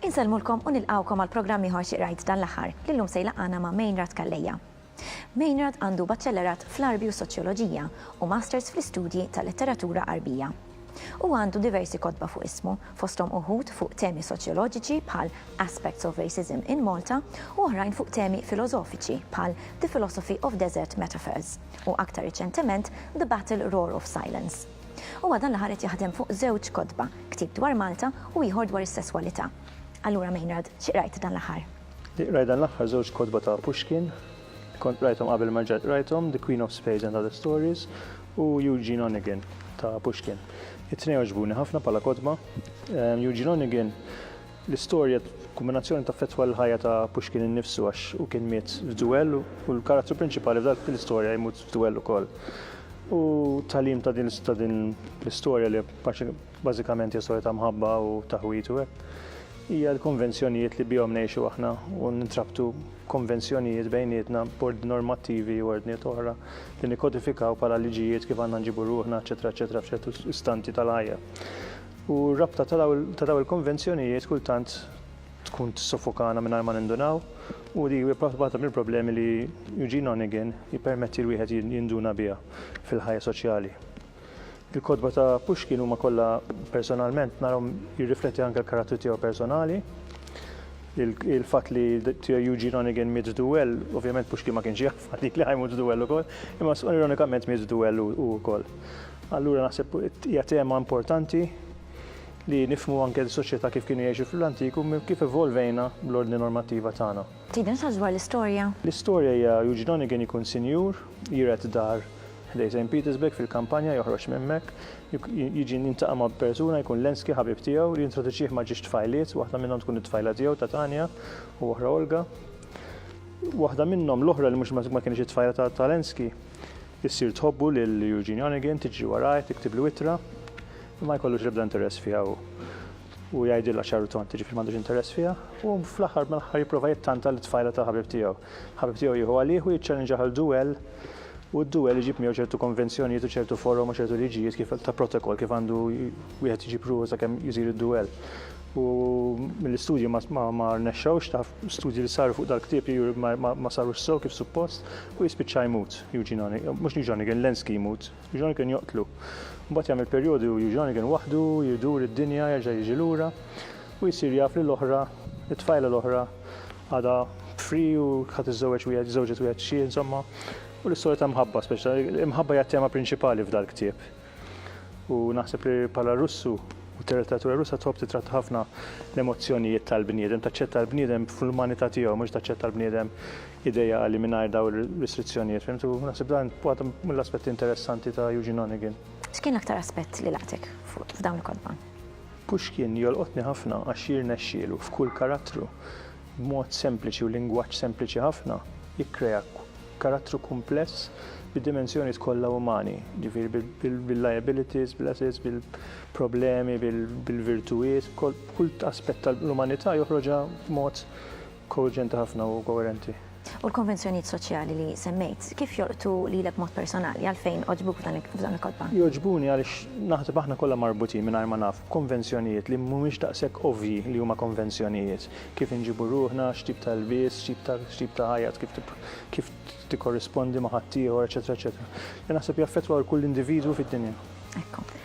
Insellmulkom u nilqgħukom għal programm ieħor xi qrajt dan l-aħħar li llum se jlaqqana ma' Main Rat Calleja. Maynard għandu Baċellerat fl-Għarbi u s-Soċjoloġija u Masters fl-Istudji tal-Letteratura Għarbija. Huwa għandu diversi kotba fuq ismu, fosthom uħud fuq temi soċjoloġiċi bħal Aspects of Racism in Malta u oħrajn fuq temi filożofiċi bħal The Philosophy of Desert Metaphors u aktar riċentement The Battle Roar of Silence. Huwa dan l-aħħar qed jaħdem fuq żewġ kotba, ktieb dwar Malta u ieħor dwar is-sesswalità. Allura Maynard, xi qrajt dan l-aħħar? Li qrajt dan l-aħħar żewġ kotba ta' Pushkin, li kont qrajthom qabel ma rġajt qrajthom, The Queen of Spades and Other Stories u Eugene Onegin ta' Pushkin. It-tnejn għaġbuni ħafna bħala kotba. Eugene Onegin, l-istorja kombinazzjoni taffettwa l-ħajja ta' Pushkin innifsu għax hu kien miet f'duell u l-karattru prinċipali f'dak l-istorja jmut f'duell ukoll. U tagħlim ta' din l-istorja li Bażikament hija storja ta' mħabba u taħwid u hekk. Hija l-konvenzjonijiet li bihom ngħixu aħna u nintrabtu konvenzjonijiet bejnietna b'ordni normattivi u ordnijiet oħra li nikkodifikaw bħala liġijiet kif għandna nġibu ruħna, eċċetera, eċċetera, f'ċertu istanti tal-ħajja. U r-rabta ta' dawn il-konvenzjonijiet kultant tkun tissofokana mingħajr ma nindunaw u dik hija waħda mill-problemi li Eugene Onegin jippermetti l-wieħed jinduna biha fil-ħajja soċjali. Il-kotba ta' Pushkin huma kollha personalment narahom jirrifletti anke l-karattru tiegħu personali. Il-fatt li tiegħu Eugene Onegin miet f'duell, ovvjament Pushkin ma kienx jaf għalik li ħajmut f'duell ukoll, imma ironikament miet f'duell hu wkoll. Allura naħseb hija tema importanti li nifhmu anke l-soċjetà kif kienu jgħixu fl-antik u kif evolvejna bl-ordni normattiva tagħna. Tgħidilna xi ħaġa dwar l-istorja? L-istorja hija Eugene Onegin ikun sinjur, jiret dar ħdej St. Petersburg fil-kampanja joħroġ minn hemmhekk, jiġi jiltaqa' ma' persuna jkun Lenski ħabib tiegħu li jintroduċih ma' ġiex tfajliet, waħda minnhom tkun it-tfajla tiegħu ta' Tanya u oħra Olga. Waħda minnhom, l-oħra li mhux ma kienx it-tfajla ta' ta' Lenski, issir tħobbu lil Eugene Onegin, tiġri warajh, tiktiblu ittra, imma jkollux l-ebda interess fiha hu. u jgħidilha ċar u tond, jiġifieri m'għandux interess fiha, u fl-aħħar mill-aħħar jipprova jittanta lit-tfajla tal-ħabib tiegħu. Il-ħabib tiegħu jieħu għalih u jiċċalenġah għal duell u d-duell iġib miegħu ċertu konvenzjonijiet u ċertu forom u ċertu liġijiet kif ta' protokoll kif għandu wieħed iġib ruħu sakemm isir id-duell. U mill-istudji ma rnexxewx, taf, studji li saru fuq dal-ktieb juru ma sarux sew kif suppost u jispiċċa jmut Eugene Onegin, mhux Eugene Onegin, Lenski jmut. Jean kien joqtlu. Mbagħad jagħmel perjodu u Jean kien waħdu, jdur id-dinja, jerġa' jiġi lura, u jsir jaf li l-oħra, it-tfajla l-oħra, għadha b'fri u ħa tiżżewweġ wieħed, żżewġet wieħed xhieh, insomma, u l-istorja ta' mħabba speċta. L-imħabba hija t-tema prinċipali f'dal-ktieb. U naħseb li bħala Russu, u t-letteratura Russa tħobb titratta ħafna l-emozzjonijiet tal-bniedem, taċċetta l-bniedem fl-umanità tiegħu, mhux taċċetta l-bniedem ideali mingħajr dawn ir-restrizzjonijiet, fimt? U naħseb dan waħda mill-aspetti interessanti ta' Eugene Onegin. X'kien l-aktar aspett li laqtek f'dawn il-kotba? Pushkin jolqotni ħafna għax jirnexxielu f'kull karattru, b'mod sempliċi u lingwaġġ sempliċi ħafna, jikkrea karattru kumpless bid-dimensjonijiet kollha umani, jiġifieri bil-liabilities, bil-assets, bil-problemi, bil-virtujiet, b'kull aspett tal-umanità joħroġha b'mod Koerġenti ħafna u koerenti. U l-konvenzjonijiet soċjali li semmejt, kif jolqtu lilek b'mod personali? Għalfejn għoġbuk f'dawn il-kotba? Jogħġbuni għaliex naħseb aħna kollha marbutin mingħajr ma nafu b'konvenzjonijiet li mhumiex daqshekk ovvji li huma konvenzjonijiet. Kif inġibu ruħna, x'tip ta' ilbies, x'tip ta' ħajja, kif tikkorrispondi ma' ħaddieħor, eċċetera eċċetera. Naħseb jaffettwa lil kull individwu fid-dinja. Ekku.